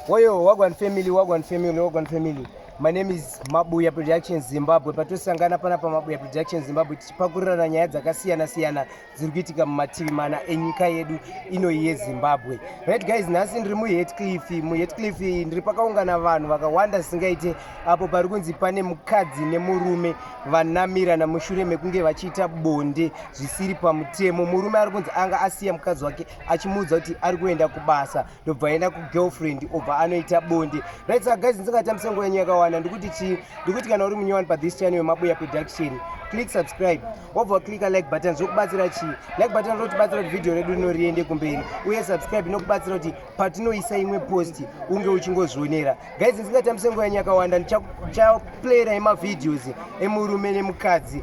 Woyo wagwan family wagwan family wagwan family my name is mabuya production zimbabwe patosangana pana pamabuya production zimbabwe tichipakurirana nyaya dzakasiyana siyana dziri kuitika mumativi mana enyika yedu inoyi yezimbabwe right guys nhasi ndiri muhetcliff muhetcliff ndiri pakaungana vanhu vakawanda zvisingaite apo pari kunzi pane mukadzi nemurume vanamirana mushure mekunge vachiita bonde zvisiri pamutemo murume ari kunzi anga asiya mukadzi wake achimuudza kuti ari kuenda kubasa ndobva aenda kugirlfriend obva anoita bonde right saka guys ndisingatambisa nguva yenyu yakawanda ndikuti chii ndikuti kana uri munyowani pathis channel yemabuya production click subscribe wobva clicka like button zvokubatsira chii like button rinotibatsira kuti vhidhiyo redu rino riende kumberi uye subscribe inokubatsira kuti patinoisa imwe post unge uchingozvionera guys ndisingatambisa nguva yenyu yakawanda ndichaplayera emavhidhios emurume nemukadzi